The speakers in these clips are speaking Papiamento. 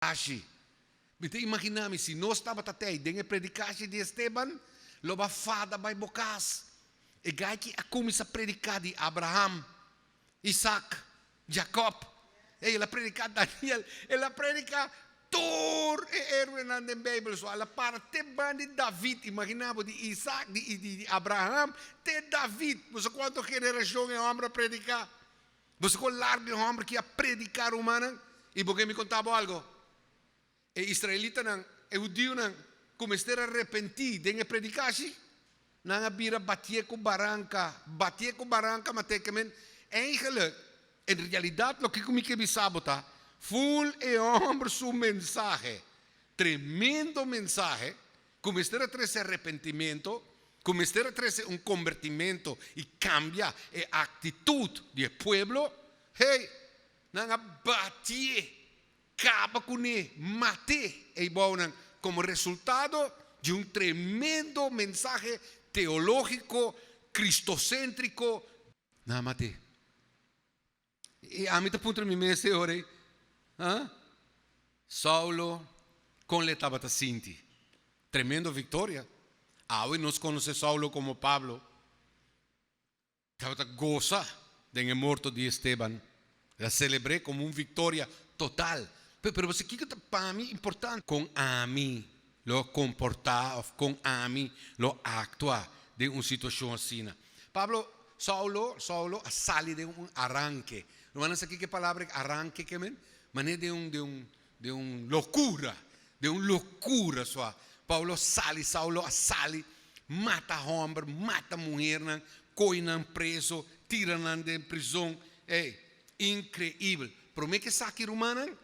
Ashi, mi ta imaginá mi, si nos tabata te ei den e predikashi di Esteban, lo bo a fada bai bo kas. E gaichi a kuminsá prediká di Abraham, Isak, Jakòb, ei el a prediká Daniel, el a prediká tur e héroenan den Beibel. So, al a para te ban di David, imaginá bo, di Isak, di Abraham te David. Bo sa kuantu generashon e hòmber a prediká? Bo sa kon largo e homber ki a prediká rumannan? I bo ke mi konta bo algo? E israelitanan, e hudionan, ku mester a repentí den e predikashi, nan a bira batié ku baranka, batié ku baranka, ma te kemen eindelijk, en realidat loke ku mi ke bisa bo ta, voel e homber su mensahe, tremendo mensahe, Ku mester a trese arepentimentu, ku mester a trese un kombertimentu i kambia e aktitut di e pueblo, hei, nan a batié, kaba kuné, mat'é ei bounan komo resultado di un tremendo mensahe teológiko, kristosèntriko, nan a mat'é. I ami ta puntra mi mes e ora ei, Ha? Saulo, kon l'e tabata sinti? Tremendo viktoria! Awe nos konosé Saulo komo Pablo, tabata gosa den e morto di Esteban, el a selebr'é komo un viktoria total. Pero bo sa kiko ta pa mi importante? Kon ami lo comporta of con ami lo actua den un situacion asina. Pablo, Saulo, Saulo a sali den un aranke. Rumannan sa kico e palabra aranke ke men? Manera den un, den un, den un locura, den un locura so a Pablo sali, Saulo a sali, mata homber, mata muhernan, coy nan preso, tira nan den prison, ey, increibel. Prome ke sa aki rumannan?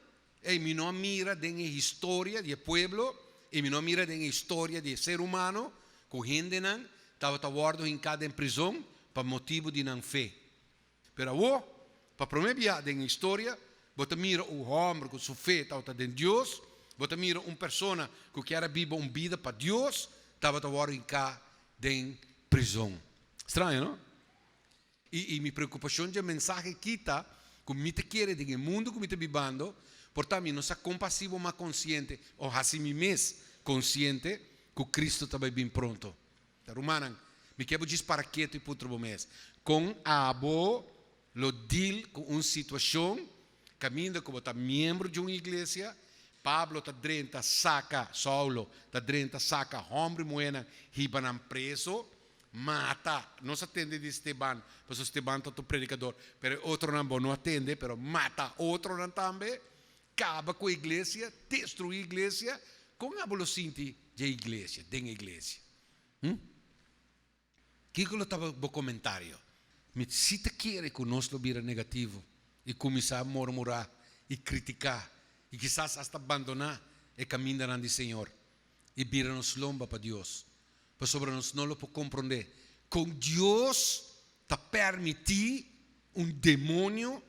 Ey, mi no a mira den e historia di e pueblo y mi no a mira den e historia di e ser humano cu hendenan tabata wordo hinca den prizon pa motibu di nan fe. Pero awo, pa prome biaha den e historia, bo ta mira un homber cu su fe tabata den Dios, bo ta mira un persona cu kier a biba un bida pa Dios, tabata wordo hinca den prizon. Straño, no? I i mi preokupashon dje mensahe kita ku mi ta kere den e mundu ku mi ta bibando, por ta mi no sa kompasivo mas konsiente o hasi mi mes konsiente ku Kristu ta bai bin pronto. Ta rumannan, mi ke bo djis para ketu i puntra bo mes, Kon abo lo deal ku un situashon kaminda ku bo ta miembro dje un iglesia? Pablo ta drenta saka, Saulo ta drenta saka hòmber i muhénan hibanan preso. Mata, nos a tende di Steban, pasobra Steban ta otro predicador, pero e otronan bo no a tende, pero mata otronan tambe, caba cu e iglesia, destrui e iglesia, con abo lo sinti dje iglesia, den e iglesia? Hm? Kico lo ta bo comentario? Mi si ta kere cu nos lo bira negativo y cuminsa mormura y critica y kisas hasta bandona e camindanan di Señor y bira nos lomba pa Dios, Pasobra nos no lo por comprende con Dios ta permiti un demonio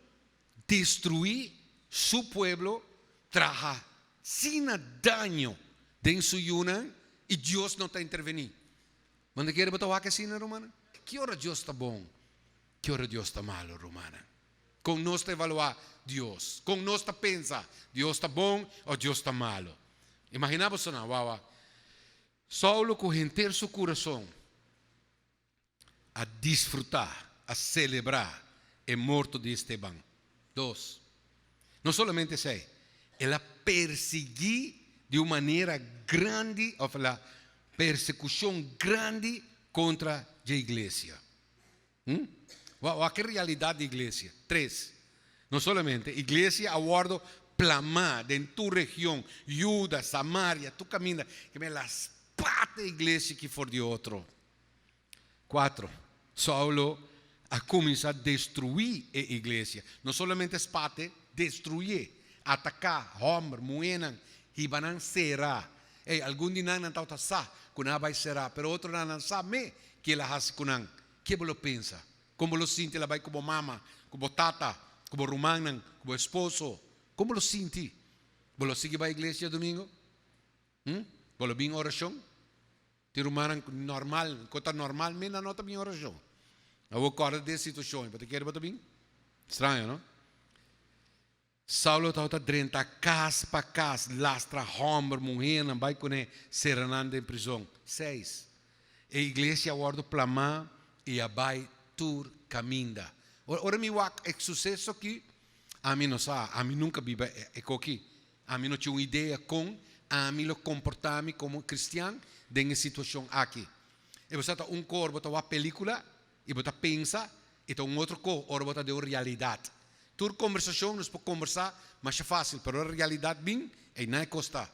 destrui su pueblo, traha asina daño den su yunan y Dios no ta interveni. Bo ta kere bo ta wak asina rumannan? Ki ora Dios ta bon? Ki ora Dios ta malo rumannan? Con nos ta evalua Dios? Con nos ta pensa Dios ta bon o Dios ta malo? Imagina bo so nan, wawa. Saulo ku henter su kurason a disfrutá, a selebrá e morto di Esteban. Dos, no solamente esei, el a persiguí di un manera grandi, òf el a persekushon grandi kontra dje iglesia. Hm. Wak e realidat di iglesia. Tres. No solamente iglesia a wordo plamá den tur region, Yuda, Samaria, tur kaminda, ke men las pat e iglesia ki for di otro. Kuatro. Saulo a kuminsá destruí e iglesia. No solamente spat'e, destruié, ataká, hòmber, muhénan, hibanan será Ey, algun di nan nan tabata sa cu nan a bay sera, pero otronan nan sa me ki el a haci cu nan. Ke bo lo pensa? Con bo lo sinti el a bay cu bo mama, cu bo tata, cu bo rumannan, cu bo esposo? Con bo lo sinti? Bo lo sigui bay iglesia domingo? Hm? Bo lo bin oracion? Tin rumannan cu normal, cu ta normal me nan no ta bin oracion. Awor corda di e situacion, y bo ta kere bo ta bin? Straño, no? Saulo tabata drenta kas pa kas, lastra hòmber, muhénan, bai pone sera nan den prizon. Seis, e iglesia a wòrdu plamá i a bai tur kaminda. Ora mi wak e suseso akí, ami no sa, ami nunka biba e koki. Ami no tin un idea kon ami lo komportá mi komo kristian den e situashon akí. Episod ta un kor bo ta wak pelíkula I bo ta pensa, e ta un otro ko ora bo ta den un realidat. Tur kombersashon nos por kombersá masha fásil, pero ora realidat bin, ei nan e kos ta.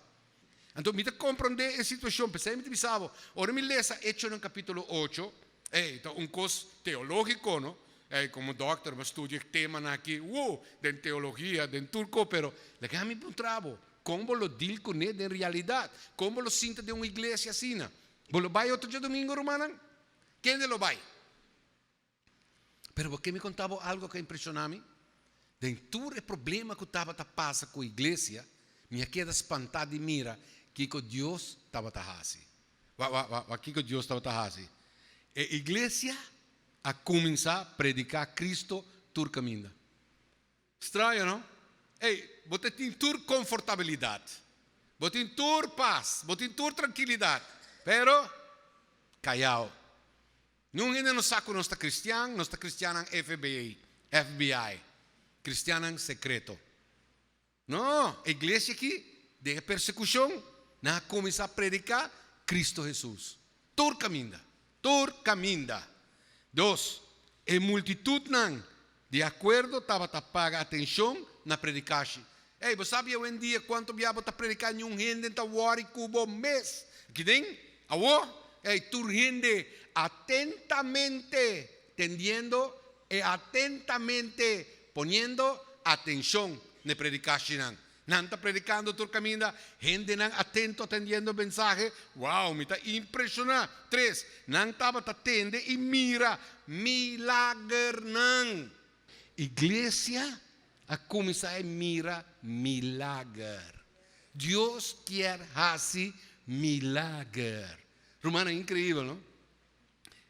Anto mi ta komprondé e situashon, p'esei mi ta bisa bo, ora mi lesa Hechonan kapítulo ocho, ei ta un kos teológiko, no? Ei, komo dòkter mi a studia e temanan aki, woo, den teologia, den tur ko, pero laga mi puntra bo, kon bo lo dil kuné den realidat? Kon bo lo sinta den un iglesia asina? Bo lo bai otochia domingo, rumannan? Kende lo bai? Pero bo ke mi konta bo algu ku a impresiona mi? Den tur e problema ku tabata pasa ku iglesia, mi a keda spantá di mira kiko Dios tabata hasi. Wa kiko Dios tabata hasi? E iglesia a kuminsá prediká Kristu tur kaminda. Straño, no? Ey, bo ta tin tur konfortabilidat. Bo tin tur pas. Bo tin tur trankilidat. Pero, kayao. Niun hende no sa ku nos ta kristian, nos ta kristiannan FBI, FBI, kristiannan sekreto. No, e iglesia aki, den e persekushon, nan a kuminsá prediká Kristu Hesus, tur kaminda. Tur caminda. Dos, e multitudnan di acuerdo tabata paga atencion na predicashi. Ey, bo sabi awendia cuanto bia bo ta predica niun hende ta worry cu bo mes. Akiden, awor, ey, tur hende atentamente tendiendo e atentamente poniendo atencion n'e predicashinan. Nan ta predicando tur caminda, hendenan atento atendiendo e mensahe, wow, mi ta impresiona! Tres, nan tabata tende y mira milagernan. Iglesia a cuminsa e mira milager. Dios kier haci milager. Rumannan, increibel no?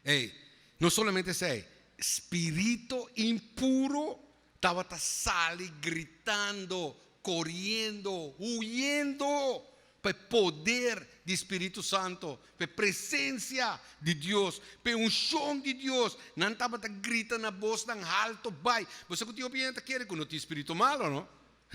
Ey, no solamente esey, spirito impuro tabata sali gritando, coriendo, huyendo pa e poder di spirito santo, pa e presencia di Dios, pa e uncion di Dios. Nan tabata grita na boznan halto bai. Bo sa cu tin hopi hende ta kere cu no tin spirito malo, no?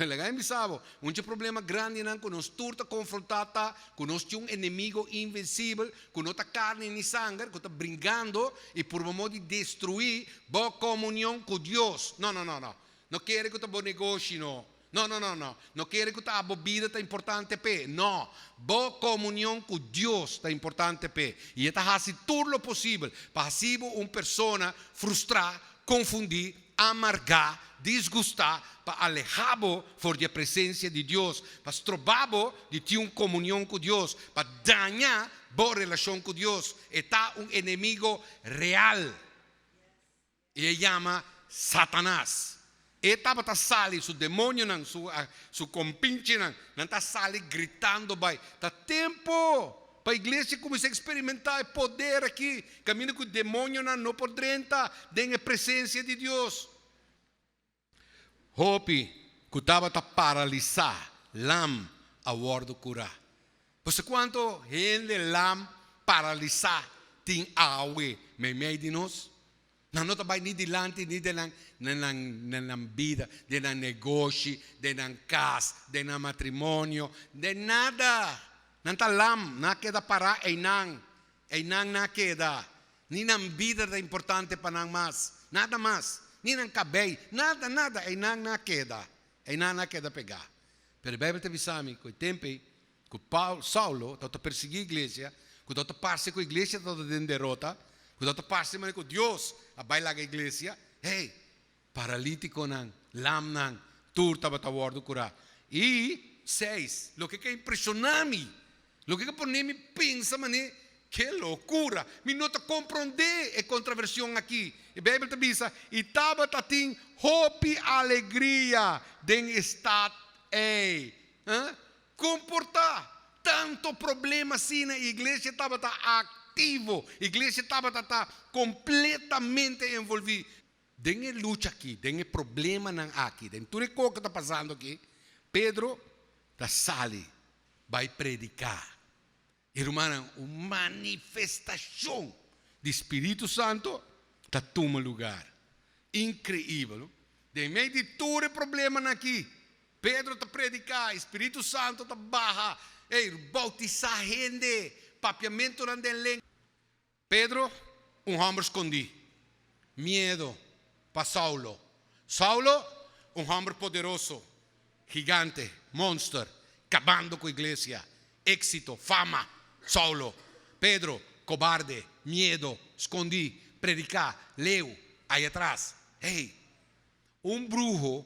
Laga mi bisa bo, un dje problema grandinan ku nos tur ta konfrontá ta ku nos tin un enemigo invensibel ku no ta karni ni sanger ku ta bringando i purba mos di destruí bo komunion ku Dios. No, no, no, no. No kere ku ta bo negoshi, no. No, no, no, no. No kere ku ta abo bida ta importante p'e. No. Bo komunion ku Dios ta importante p'e i e ta hasi tur lo posibel pa hasi bo un persona frustrá, konfundí, amargá, disgustá, pa alehá bo for di e presensia di Dios, pa strobá bo di tin un komunion ku Dios, pa dañá bo relashon ku Dios. E ta un enemigo real i e yama Satanas. E tabata sali su demonionan, su kompinchinan, nan ta sali gritando bai, Ta tempu Pa iglesia kuminsá eksperimentá e poder akí, kaminda ku demonionan no por drenta den e presensia di Dios. Hopi ku tabata paralisá lam a wòrdu kurá. Bo sa kuantu hende lam paralisá tin awe meimei di nos? Nan no ta bai ni dilanti ni denan na nan na nan bida, den nan negoshi, den nan kas, den nan matrimonio, den nada. Nan ta lam, nan a keda pará einan, einan nan a keda, ni nan bida ta importante pa nan mas, nada mas, ni nan kabei, nada, nada, einan nan a keda, einan nan a keda pegá. Pero e Beibel ta bisa mi ku e tempu ei Ku Saulo tabata persiguí iglesia, ku tabata parse ku iglesia tabata den derota, ku tabata parse manera ku Dios a bai laga iglesia, hey, paralítikonan, lamnan, tur tabata wòrdu kurá. I seis, loke ke a impreshoná mi, loke ke a pon'é mi pensa manera, ke lokura! Mi no ta komprondé e kontravershon akí. E Beibel ta bisa, I tabata tin hopi alegria den e stat ei. Huh? Komportá. Tantu problema asina i iglesia tabata aktivo. Iglesia tabata ta kompletamente envolví den e lucha akí, den e problemanan akí. Den tur e ko ku ta pasando akí, Pedro ta sali bai prediká. E rumannan, un manifestacion di Spiritu Santo ta tuma lugar. Increibel, no? Den mei di tur e problemanan aki, Pedro ta predica, e Spiritu Santo ta baha, ey, bautisa hende, papiamentonan den lenga. Pedro, un hòmber skondí. Miedo pa Saulo. Saulo, un hòmber poderoso. Gigante, monster, kabando ku iglesia. Éksito, fama. Saulo. Pedro, kobarde, miedo, skondí, prediká, leu, ayatras. Hey! Un bruho.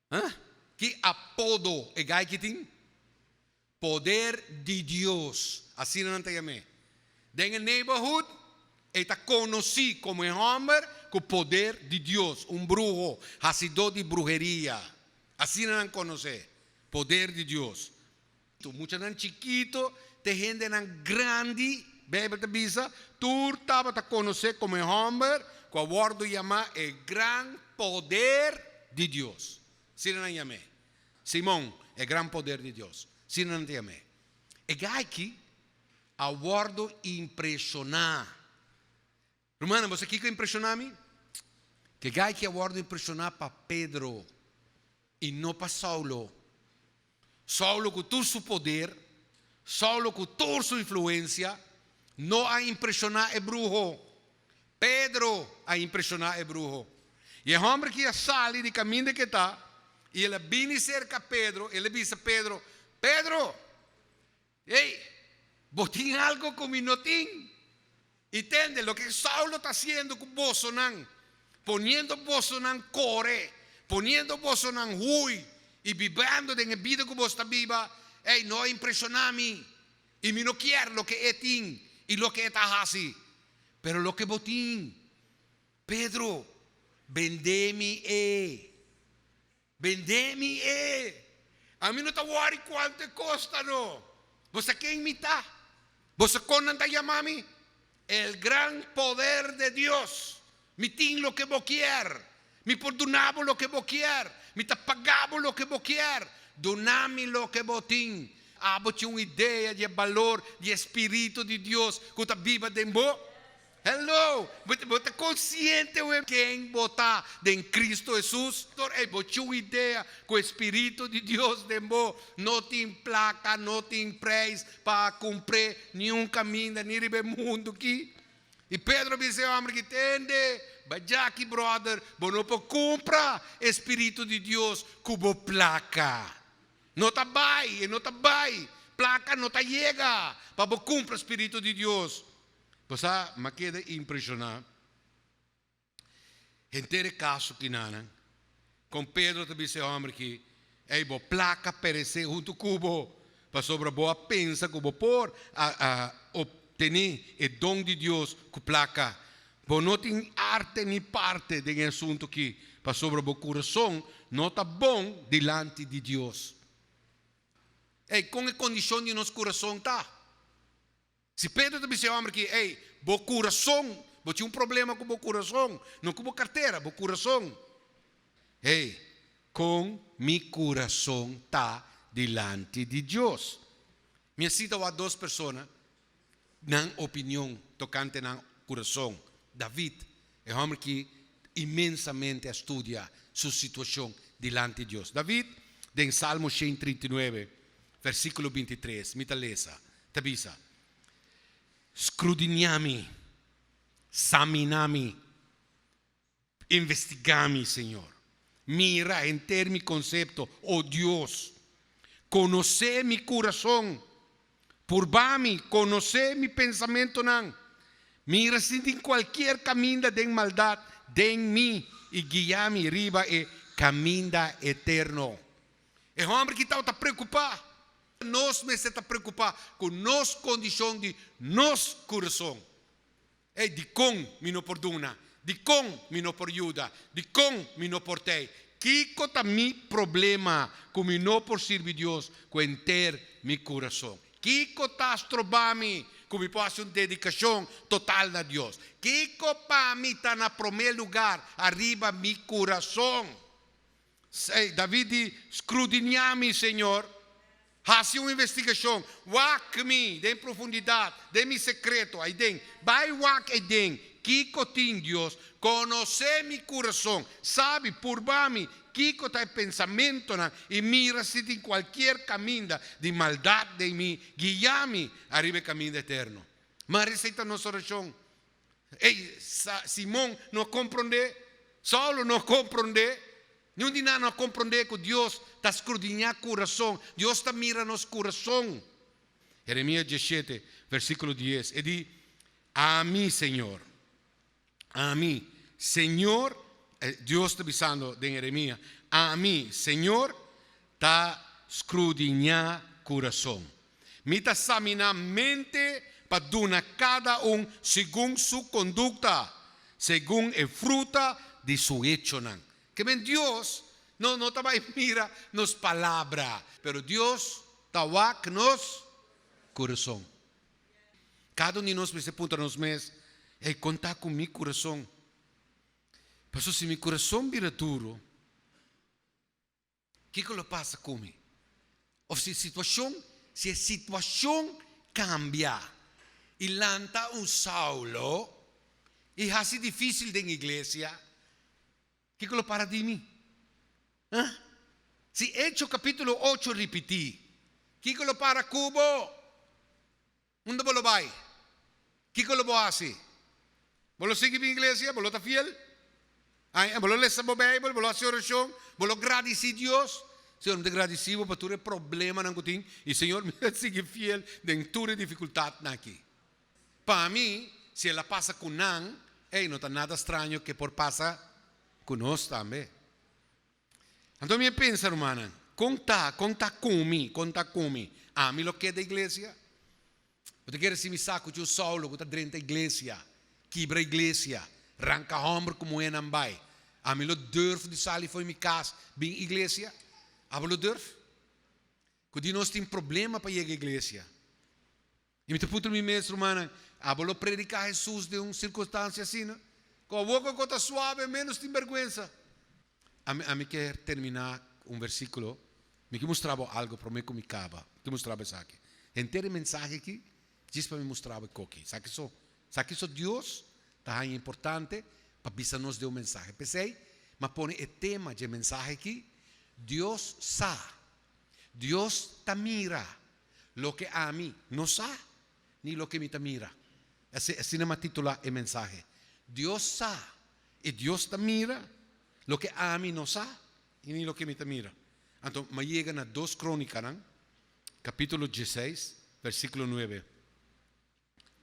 Huh? Ki apodo e gaiky tin? Poder di Dios, asina nan ta yam'é. Den e neighborhood e ta konosí komo e hòmber ku poder di Dios, un bruho, hasidó di bruheria, asina nan konos'é, poder di Dios. Tur muchanan chikito te hendenan grandi, Bijbel ta bisa, tur tabata konosé komo e hòmber ku a wòrdu yamá e gran poder di Dios. Asina nan yam'é. Simon, e gran poder di Dios. Asina nan ta yam'é. E gayki a wòrdu impreshoná Rumannan, bo sa kiko a impreshoná mi? Ke gai ke a wòrdu impreshoná pa Pedro i no pa Saulo. Saulo ku tur su poder, Saulo ku tur su influensia no a impreshoná e bruho. Pedro a impreshoná e bruho. I e hòmber ki a sali di kaminda ke ta i el a bini serka Pedro, el a bisa Pedro, Pedro, Ey, bo tin algo cu mi no tin. Y tende loke Saulo ta haciendo cu bosonan, poniendo bosonan core, poniendo bosonan hui y bibendo den e bida cu boso ta biba, ey, no a impresiona mi. Y mi no kier loke e tin y loke e ta haci. Pero loke bo tin, Pedro, bende mi e. Bendé mi e. Ami no ta wòri kuantu e kosta no. Bo sa ken mi ta? Bo sa kon nan ta yama mi? El gran poder de Dios. Mi tin loke bo kier. Mi por duna bo loke bo kier. Mi ta paga bo loke bo kier. Duna mi loke bo tin. Abo tin un idea di e balor di e Spiritu di Dios ku ta biba den bo? Hello! Bo ta konsiente web ken bo ta den Kristo Hesus? Tor ei bo chu idea ku e Spiritu di Dios den bo. No tin plaka, no tin preis pa kumpr'é niun kaminda ni riba e mundu ki. I Pedro a bisa e òmber ki, Tende, bajaki bròder, bo no por kumpra e Spiritu di Dios ku bo plaka. No ta bai, e no ta bai. Plaka no ta yega pa bo kumpra Spiritu di Dios. Pasá m'a keda impreshoná henter e kaso kinanan, kon Pedro ta bis'é hòmber ki, Ei, bo plaka peresé huntu ku bo, pasobra bo a pensa ku bo por a obtené e don di Dios ku plaka. Bo no tin arte ni parte den e asuntu akí, pasobra bo kurason no ta bon dilanti di Dios. Ei, kon e kondishon di nos kurason ta? Si Pedro ta bis'é homber ki, Ey, bo curason, bo tin un problema cu bo curason, no cu bo cartera, bo curason. Ey, con mi curason ta dilanti di Dios? Mi a cita bo a dos persona nan opinion tocante nan curason, David E hòmber ki inmensamente a studia su situashon dilanti Dios. David, den Salmo shen i trinta i nuebe, versíkulo binti i tres, mi ta lesa, ta bisa, Skrudiniá mi, saminá mi, investigá mi, Señor. Mira henter mi konsepto, o Dios. Konosé mi kurason. Purba mi, konosé mi pensamentunan. Mira si tin kualkier kaminda den maldat den mi, i guia mi riba e kaminda eterno. E hòmber ki tabata preokupá, nos mester ta preokupá ku nos kondishon di nos kurason. Ey, dikon mi no por duna? Dikon mi no por yuda? Dikon mi no por tei? Kiko ta mi problema ku mi no por sirbi Dios ku henter mi kurason? Kiko ta stroba mi ku mi por hasi un dedikashon total na Dios? Kiko pa mi ta na promé lugar ariba mi kurason? Seis, David di, Skrudiniá mi, Señor, hasi un investigashon, wak mi den profundidat, den mi sekreto aiden, bai wak aiden kiko tin Dios, konosé mi kurason, sabi, purba mi kiko ta e pensamentunan, i mira si tin kualkier kaminda di maldat den mi, guia mi ariba e kaminda eterno. Maria, esei ta nos orashon. Ey, Simon no a compronde, Saulo no a compronde, niun di nan no a compronde cu Dios ta scrudinia curason, Dios ta mira nos curason. Jeremia dieschete, versiculo dies, e di, Ami, Señor, Ami, Señor, Dios ta bisando den Jeremia, Ami, Señor, Ta scrudiña curason. Mi ta samina mente pa duna cada un segun su conducta, segun e fruta di su hechonan. Ke men Dios no no ta bay mira nos palabra, pero Dios ta wak nos curason. Cada un di nos mester puntra nos mes, Ey, con ta cu mi curason? Pasobra si mi curason bira duro. Kiko lo pasa ku mi? Òf si situashon, si e situashon kambia i lanta un Saulo i hasi difísil den iglesia, kiko lo para di mi? Ha? Si Hecho kapítulo ocho ripití, kiko lo para ku bo? Unda bo lo bai? Kiko lo bo hasi? Bo lo sigui bin iglesia? Bo lo ta fiel? Ai, bo lo lesa bo Beibel? Bo lo hasi orashon? Bo lo gradisí Dios? Señor, mi ta gradisí Bo pa tur e problemanan ku tin, i Señor, mi ta sigui fiel den tur e difikultatnan akí. Pa mi, si el a pasa ku nan, ei, no ta nada straño ke por pasa ku nos tambe. Anto mi a pensa, rumannan, kon ta, kon ta kon mi, kon ta kon mi? Ami lo keda iglesia? Bo ta kere si mi sa ku cu Saulo ku ta drenta iglesia, kibra iglesia, ranka hòmber ku muhénan bai? Ami lo durf di sali for mi kas bin iglesia? Abo lo durf? Ku di nos tin problema pa yega iglesia? Y mi ta puntra mi mes rumannan, Abo lo predica Hesus den un circunstancia asina? Cu aboca cu ta suave en menos tin berguensa? Ami, ami kier termina cu un versiculo. Mi kier mustra bo algo prome cu mi caba. Mi kier mustra bo esaki. Henter e mensahe aki, djis pa mi mustra bo e coki. Esaki so. Esaki so Dios ta haya importante pa bisa nos den un mensahe. Pesey, m'a pone e tema dje mensahe aki, Dios sa. Dios ta mira. Loke ami no sa, ni loke mi ta mira. Asina mi a titulá e mensahe. Dios sa, i Dios ta mira loke ami no sa, i ni loke mi ta mira. Anto mi a yega na Dos Krónikanan, kapítulo dieseis, versíkulo nuebe.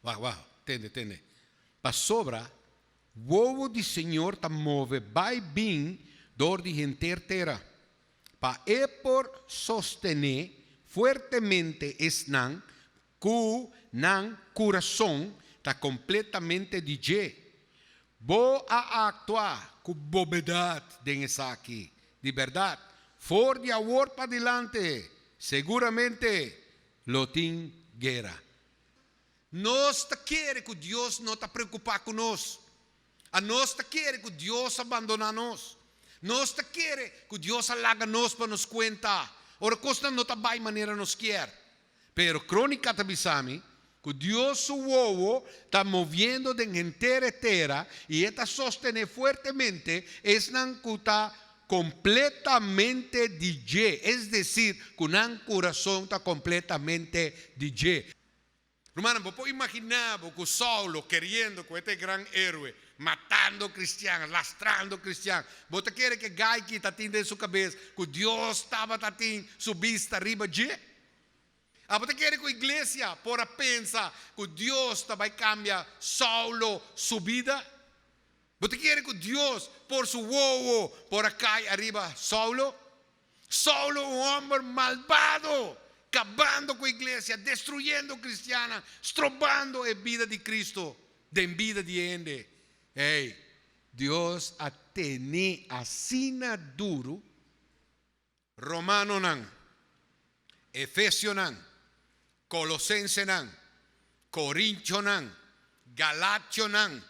Wacht, wacht, tende, tende. Pasobra wowo di Señor ta move bai bin dor di henter tera, pa E por sostené fuertemente esnan ku nan kurason ta kompletamente di dje. Bo a aktua ku bobedat den esaki, di bèrdat, for di awor padilanti seguramente lo tin guera. Nos ta kere ku Dios no ta preokupá ku nos. Anos ta kere ku Dios a bandoná nos. Nos ta kere ku Dios a laga nos pa nos kuenta ora kosnan no ta bai manera nos kier. Pero Krónika ta bisa mi ku Dios su wowo ta moviendo den henter e tera i e ta sostené fuertemente esnan ku ta Completamente di dje, es decir, cu nan curazon ta completamente di dje. Rumannan, bo por imagina bo cu Saulo, keriendo cu e ta e gran heroe, matando cristian, lastrando cristian, bo ta kere cu e gaiky ta tin den su cabez cu Dios tabata tin su bista riba dje? Abo ta kere cu iglesia por a pensa cu Dios ta bay cambia Saulo su bida? Bo ta kere ku Dios por su wowo por a kai ariba Saulo? Saulo un hòmber malbado, kabando ku iglesia, destruyendo kristiannan, strobando e bida di Kristu den bida di e hende. Ei, Dios a tene asina duru? Romanonan, Efesionan, Colosensenan, Corintionan, Galationan,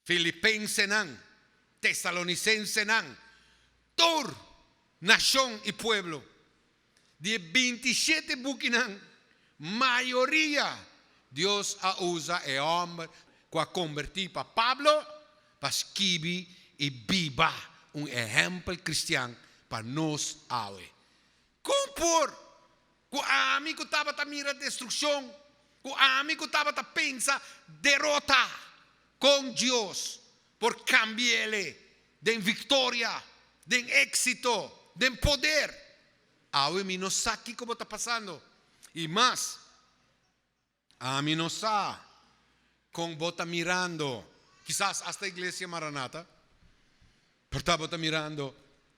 Filipensenan, Tesalonicensenan, tur nacion y pueblo. Di e bintisiete bukinan, mayoria Dios a usa e homber cu a comberti pa Pablo, pa skibi i biba un ehèmpel kristian pa nos awe. Kon por ku ami ku tabata mira destrukshon, ku ami ku tabata pensa derota, kon Dios por kambia'le den viktoria, den éksito, den poder? Awe mi no sa kiko bo ta pasando. I mas, Ami no sa kon bo ta mirando, kisas asta Iglesia Maranata, por ta bo ta mirando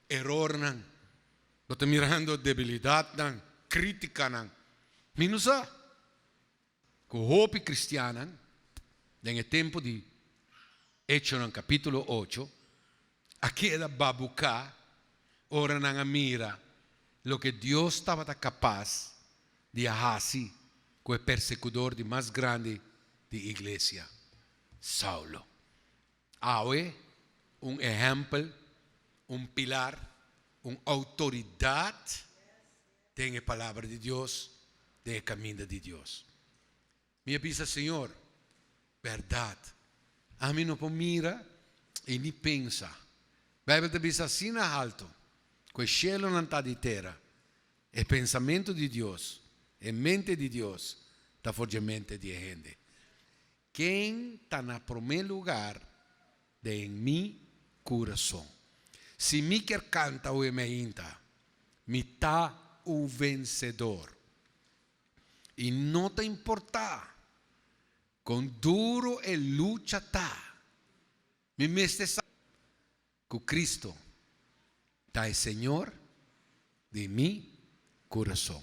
erornan, bo ta mirando debilidatnan, kritikanan. Mi no sa ku hopi kristiannan den e tempu di Hechonan kapítulo ocho a keda babuká ora nan a mira loke Dios tabata kapas di a hasi ku e persekudor di mas grandi di iglesia, Saulo. Awe, un ehèmpel, un pilar, un outoridat den e Palabra di Dios, den e kaminda di Dios. Mi a bisa, Señor, berdad, ami no por mira y ni pensa. Bijbel ta bisa asina halto, cu e shelonan ta di tera, e pensamento di Dios, e mente di Dios, ta for dje mente di e hende. Ken ta na prome lugar den mi curason? Si mi kier canta oe mi ainta, Mi ta un vencedor. I no ta importá kon duro e lucha ta, mi mester sa ku Kristu ta e Señor di mi kurason.